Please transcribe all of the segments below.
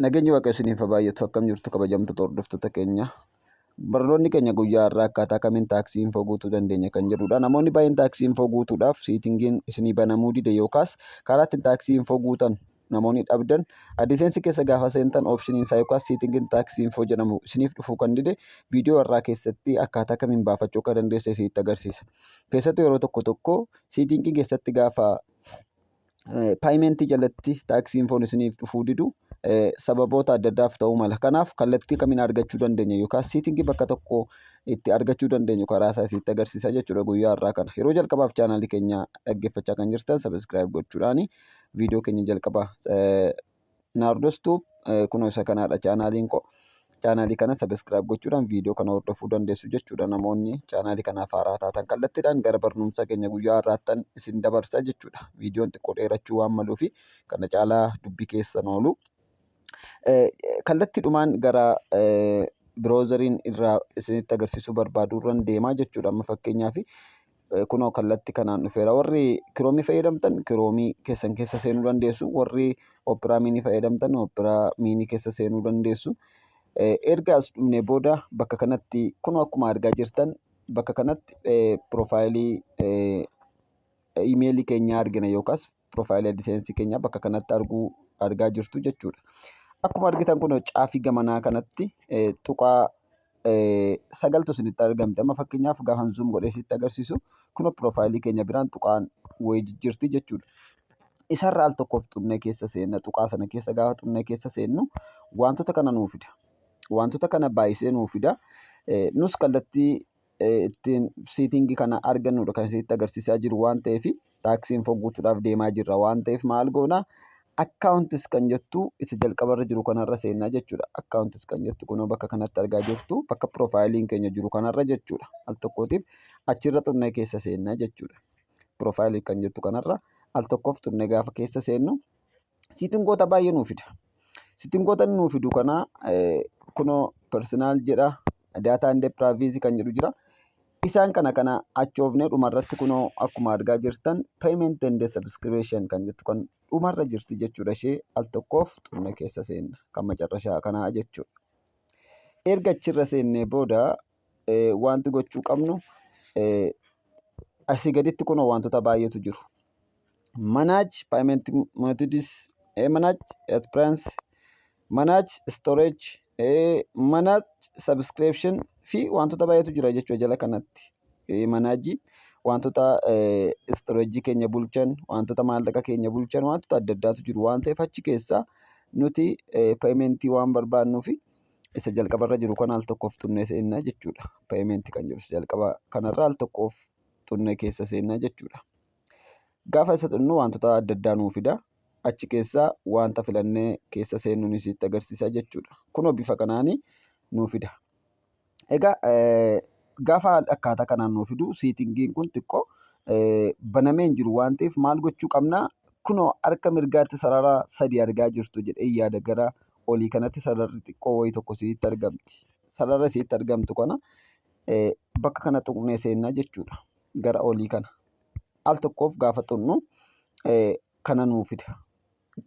Nageenyi Waaqayyo isiniif haa baay'atu akkam jirtu kabajamtoota hordoftoota keenya. Barnoonni keenya guyyaa har'aa akkaataa kamiin taaksii infoo guutuu dandeenya kan jedhudha. Namoonni baay'een taaksii infoo guutuudhaaf siitingiin isinii banamuu dide yookaas karaa ittiin taaksii infoo guutan namoonni dhabdan adiseensi keessa gaafa seentan oopshiniin isaa yookaas siitingiin taaksii infoo jedhamu isiniif dhufuu kan dide viidiyoo har'aa keessatti akkaataa kamiin baafachuu akka dandeesse isinitti agarsiisa. Keessattuu yeroo tokko tokko siitingii keessatti gaafa paayimentii jalatti taaksii infoon isiniif dhufuu didu sababoota adda addaaf ta'uu mala. Kanaaf kallattii kamiin argachuu dandeenya yookaan siitingii bakka tokko itti argachuu dandeenyu karaa isaa isinitti agarsiisa jechuudha guyyaa har'aa kana. Yeroo jalqabaaf chaanaalii keenya dhaggeeffachaa kan jirtan sabiskiraayib gochuudhaan viidiyoo keenya jalqabaa Naardos Tube eh, kunoo isa kanaadha chaanaaliin koo. Chaanaalii kana sabiskiraayib gochuudhaan viidiyoo kana hordofuu dandeessu jechuudha namoonni chaanaalii kanaaf haaraa taatan kallattiidhaan gara barnoomsa keenya guyyaa har'aattan isin dabarsa jechuudha. Viidiyoon xiqqoo dheerachuu waan maluufi kana caalaa dubbii keessan oolu. Eh, Kallattiidhumaan gara eh, biroozariin irraa isinitti agarsiisuu barbaadu irran deemaa jechuudha amma fakkeenyaaf kunoo kallatti kanaan dhufeera warri kiroomii fayyadamtan kiroomii keessan keessa seenuu dandeessu warri operaa miinii fayyadamtan operaa miinii keessa seenuu dandeessu erga as dhumne booda bakka kanatti kunoo akkuma argaa jirtan bakka kanatti piroofaayilii imeelii keenyaa argina yookaas profile AdSense keenya bakka kanatti arguu argaa jirtu jechuudha. Akkuma argitan kun caafii gamanaa kanatti tuqaa sagaltu isinitti argamti. Amma fakkeenyaaf gaafa zoom godhee isinitti agarsiisu kun profile keenya biraan tuqaan wayii jijjiirti jechuudha. Isarra al tokkoof xunnee keessa seenna tuqaa sana keessa gaafa xunnee keessa seennu wantoota kana nuu fida. Wantoota kana baay'isee nuu fida. Nus kallattii ittiin siitingii kana argannudha kan isinitti agarsiisaa jiru waan ta'eef taaksii info guutuudhaaf deemaa jirra waan ta'eef maal goona akkaawuntis kan jettu isa jalqabarra jiru kanarra seennaa jechuudha akkaawuntis kan jettu kunoo bakka kanatti argaa jirtu bakka piroofaayiliin keenya jiru kanarra jechuudha al tokkootiif achirra xurnee keessa seennaa jechuudha piroofaayilii kan jettu kanarra al tokkoof xurnee gaafa keessa seennu Siitingoota baay'ee nuu fida. Siitingoota inni nuu fidu kana kunoo personal jedha data and privacy kan jedhu jira. Isaan kana kana achoofnee dhumarratti kunoo akkuma argaa jirtan payment and subscription kan jettu kan dhumarra jirti jechuudha ishee al tokkoof xumna keessa seenna kan macarrashaa kanaa jechuudha. Erga achirra seennee booda wanti gochuu qabnu asii gaditti kunoo wantoota baay'eetu jiru. Manage payment methods, manage appearance, manage storage, manage subscription fi wantoota baay'eetu jira jechuudha jala kanatti. Manaajii wantoota storage keenya bulchan, wantoota maallaqa keenya bulchan, wantoota adda addaatu jiru waan ta'eef achi keessaa nuti payment waan barbaadnuufi. isa jalqaba irra jiru kana al tokkoof xunnee seennaa jechuudha. Payment kan jiru isa jalqaba kanarra al tokkoof xunnee keessa seennaa jechuudha. Gaafa isa xunnu wantoota adda addaa nuu fida. Achi keessa wanta filannee keessa seennuun isitti agarsiisa jechuudha. Kunoo bifa kanaan nuu fida. Egaa gaafa akkaataa kanaan nuu fidu siitingiin kun xiqqoo banamee hin jiru waan ta'eef maal gochuu qabna? Kunoo harka mirgaatti sarara sadii argaa jirtu jedhee yaada gara olii kanatti sararri xiqqoo wayii tokko isinitti argamti. Sarara isinitti argamtu kana bakka kana tuqnee seenna jechuudha. Gara olii kana. Al tokkoof gaafa tuqnu kana nuu fida.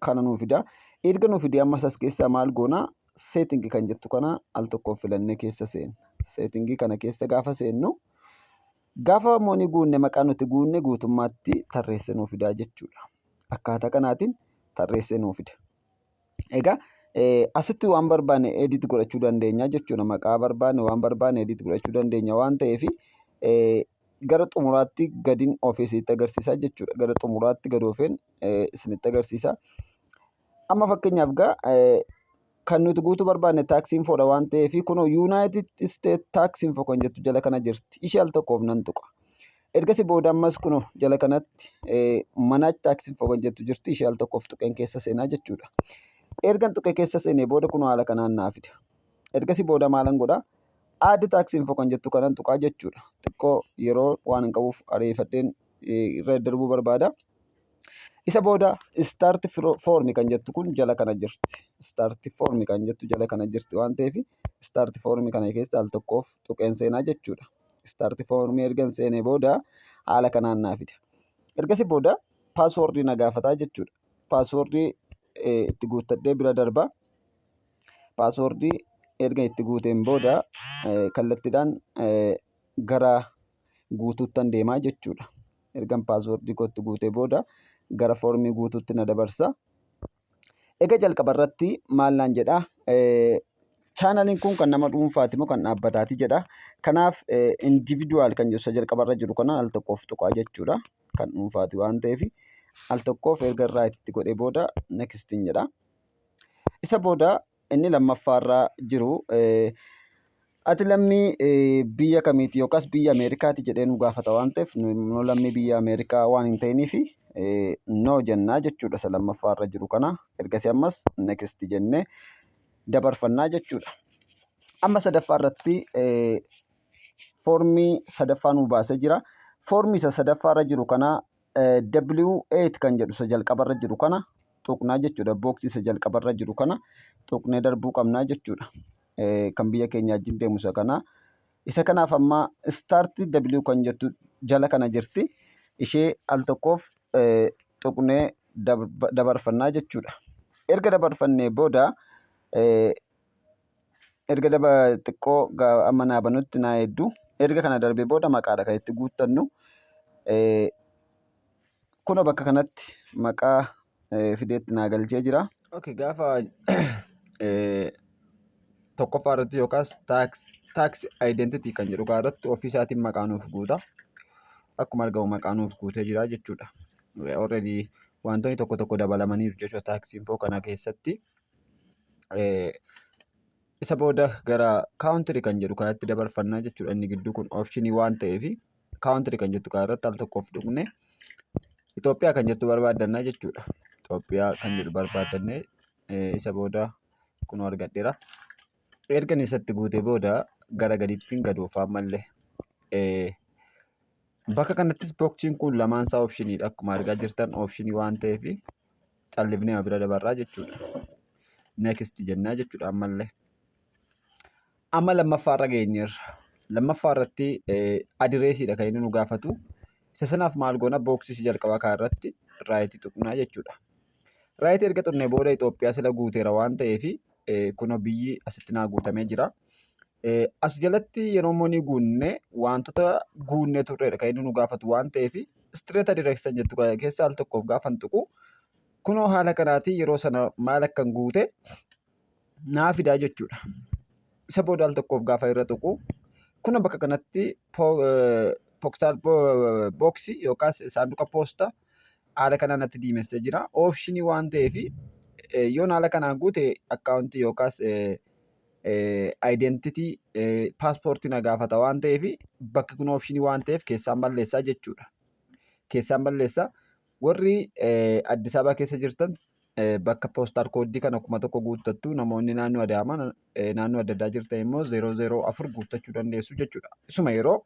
Kana nuu fida. Erga nuu fidee ammas as keessaa maal goona? Seetingi kan jettu kana al tokkoof filannee keessa seenna. Seetingii kana keessa gaafa seennu gaafa moonii guunne maqaa nuti guunne guutummaatti tarreessee nuu fidaa jechuudha. Akkaataa kanaatiin tarreessee nuu fida. Egaa asitti waan barbaanne edit godhachuu dandeenya jechuudha. Maqaa barbaanne waan barbaanne edit godhachuu dandeenya waan ta'eef gara xumuraatti gadin ofee isinitti agarsiisa jechuudha. Gara xumuraatti gad ofeen isinitti agarsiisa. Amma fakkeenyaaf gaa kan nuti guutuu barbaanne taaksii infoodha waan ta'eef kunoo yuunaayitid isteet taaksii info kan jettu jala kana jirti. Ishee al tokkoof nan tuqa. Ergasii booda ammas kunoo jala kanatti manage tax info kan jettu jirti ishee al tokkoof tuqeen keessa seenaa jechuudha. Ergan tuqee keessa seenee booda kunoo haala kanaan naa fida. Ergasii booda maalan godha add tax info kan jettu kanan tuqaa jechuudha. Xiqqoo yeroo waan hin qabuuf ariifadheen irra darbuu barbaada. Isa booda start form kan jettu kun jala kana jirti. Start form kan jettu jala kana jirti waan ta'eef start form kana keessa al tokkoof tuqeen seenaa jechuudha. istaarti foormii ergan seenee booda haala kanaan naa fida. Ergasii booda paaswoordii na gaafataa jechuudha. Paaswoordii itti guuttadhee bira darba. Paaswoordii erga itti guuteen booda kallattiidhaan gara guutuuttan deemaa jechuudha. Ergan paaswoordii kootti guutee booda gara foormii guutuutti na dabarsa. Egaa jalqaba irratti maal naan jedha chaanaliin kun kan nama dhuunfaati moo kan dhaabbataati jedha. Kanaaf individual kan jedhu isa jalqaba irra jiru kana al tokkoof tuqaa jechuudha. Kan dhuunfaati waan ta'eef al tokkoof erga irraa itti godhee booda next jedha. Isa booda inni lammaffaarra jiru ati lammii biyya kamiiti yookaas biyya Ameerikaati jedhee nu gaafata waan ta'eef nu lammii biyya Ameerikaa waan hin ta'iniif no jennaa jechuudha isa lammaffaarra jiru kana ergasii ammas next jennee dabarfannaa jechuudha. Amma sadaffaa irratti foormii sadaffaa nu baasee jira. Foormii isa sadaffaarra jiru kana W8 kan jedhu isa jalqabarra jiru kana tuqnaa jechuudha. Booksii isa jalqabarra jiru kana tuqnee darbuu qabnaa jechuudha. Kan biyya keenya wajjin deemu isa kana. Isa kanaaf amma start W kan jettu jala kana jirti. Ishee al tokkoof tuqnee dabarfannaa jechuudha. Erga dabarfannee booda erga daba xiqqoo amma naa banutti naa eeddu erga kana darbe booda maqaadha kan itti guuttannu kuno bakka kanatti maqaa fideetti naa galchee jira. Okay, gaafa tokkoffaa irratti yookaas tax identity kan jedhu kaa irratti ofii isaatiin maqaa nuuf guuta. Akkuma argamu maqaa nuuf guutee jira jechuudha. Already wantoonni tokko tokko dabalamaniiru jechuudha tax info kana keessatti. isa booda gara kaawuntiri kan jedhu kanatti dabarfannaa jechuudha inni gidduu kun oopshinii waan ta'eef kaawuntiri kan jettu kanarratti al tokkoof dhugne Itoophiyaa kan jettu barbaadannaa jechuudha Itoophiyaa kan jedhu barbaadannee isa booda kun argadheera ergan isatti guutee booda gara gadiittiin gad oofaa malle bakka kanattis booksiin kun lamaan isaa oopshiniidha akkuma argaa jirtan oopshinii waan ta'eef callifneema bira dabarraa jechuudha. Next jennaa jechuudha ammallee. Amma lammaffaa irra geenyeerra. Lammaffaa irratti adireesiidha kan inni nu gaafatu. Isa sanaaf maal goona booksii si jalqabaa kaa irratti raayitii tuqnaa jechuudha. Raayitii erga tuqnee booda Itoophiyaa sila guuteera waan ta'eef kunoo biyyi asitti naa guutamee jira. As jalatti yeroo immoo ni guunne wantoota guunnee turreedha kan inni nu gaafatu waan ta'eef istireeta direeksan jettu kana keessa al tokkoof gaafan tuqu kunoo haala kanaatiin yeroo sana maal akkan guute naa fidaa jechuudha. Isa booda al tokkoof gaafa irra tuqu kuna bakka kanatti poksaal booksii yookaas saanduqa poosta haala kanaan natti diimessee jira. Oopshinii waan ta'eef yoon haala kanaan guute akkaawuntii yookaas identity paaspoortii na gaafata waan ta'eef bakki kun option waan ta'eef keessaan balleessaa jechuudha. Keessaan balleessaa warri Addis Ababa keessa jirtan bakka poostaan kooddii kana kuma tokko guuttattu namoonni naannoo Adaamaa naannoo adda addaa jirtan immoo 004 guuttachuu dandeessu jechuudha. Isuma yeroo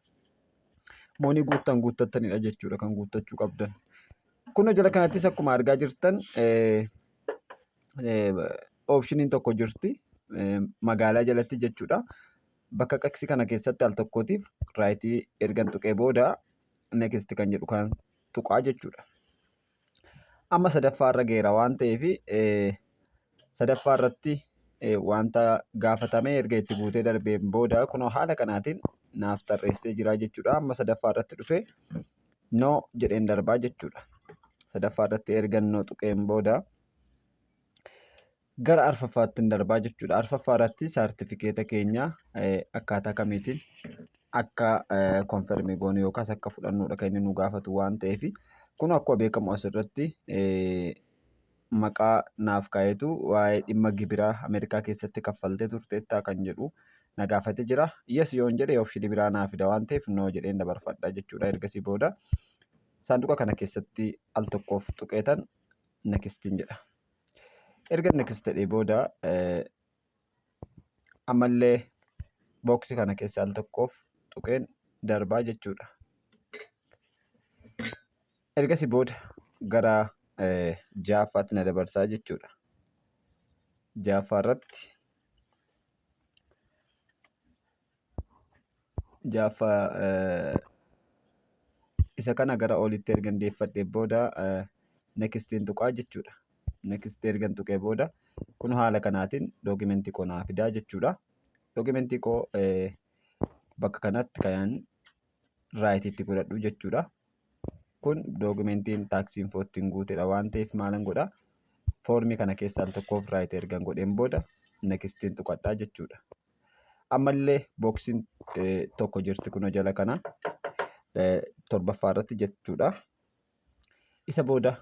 moonii guuttan guuttattanidha jechuudha kan guuttachuu qabdan. Kun jala kanattis akkuma argaa jirtan oopshiniin tokko jirti magaalaa jalatti jechuudha. Bakka qaqsi kana keessatti al tokkootiif raayitii ergan tuqee booda next kan jedhu kan tuqaa jechuudha. Amma sadaffaa irra geera waan ta'eef sadaffaa irratti wanta gaafatamee erga itti guutee darbeen booda kunoo haala kanaatiin naaf tarreessee jira jechuudha. Amma sadaffaa irratti dhufee no jedheen darbaa jechuudha. Sadaffaa irratti ergan no tuqeen booda gara arfaffaattiin darbaa jechuudha. Arfaffaa irratti saartifikeeta keenya akkaataa kamiitiin akka konfermii goonu yookaas akka fudhannuudha kan inni nu gaafatu waan ta'eef kun akkuma beekamu asirratti maqaa naaf kaa'eetu waa'ee dhimma gibiraa Ameerikaa keessatti kaffaltee turteettaa kan jedhu na gaafate jira. Yes yoon jedhe option biraa naa fida waan ta'eef no jedheen dabarfadha jechuudha. Ergasii booda saanduqa kana keessatti al tokkoof tuqeetan nekistiin jedha. Erga nekist jedhee booda ammallee booksi kana keessa al tokkoof tuqeen darbaa jechuudha. Ergasii booda gara jaaffaatti na dabarsaa jechuudha. Jaaffaa irratti ja'affaa eh, isa kana gara olitti ergan deeffadhe booda eh, nextin tuqaa jechuudha. Next ergan tuqee booda kun haala kanaatiin dookimentii koo naa fidaa jechuudha. Dookimentii koo eh, bakka kanatti kan raayitiitti godhadhu jechuudha. Kun dookimentiin taaksii infoo ittiin guutedha waan ta'eef maalan godha foormii kana keessaan tokkoof raayit ergan godheen booda nextin tuqadhaa jechuudha. Ammallee booksiin tokko jirti kunoo jala kana torbaffaa irratti jechuudha. Isa booda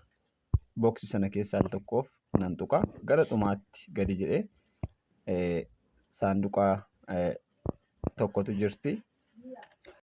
booksii sana keessaa al tokkoof nan tuqa. Gara dhumaatti gadi jedhee saanduqa tokkotu jirti.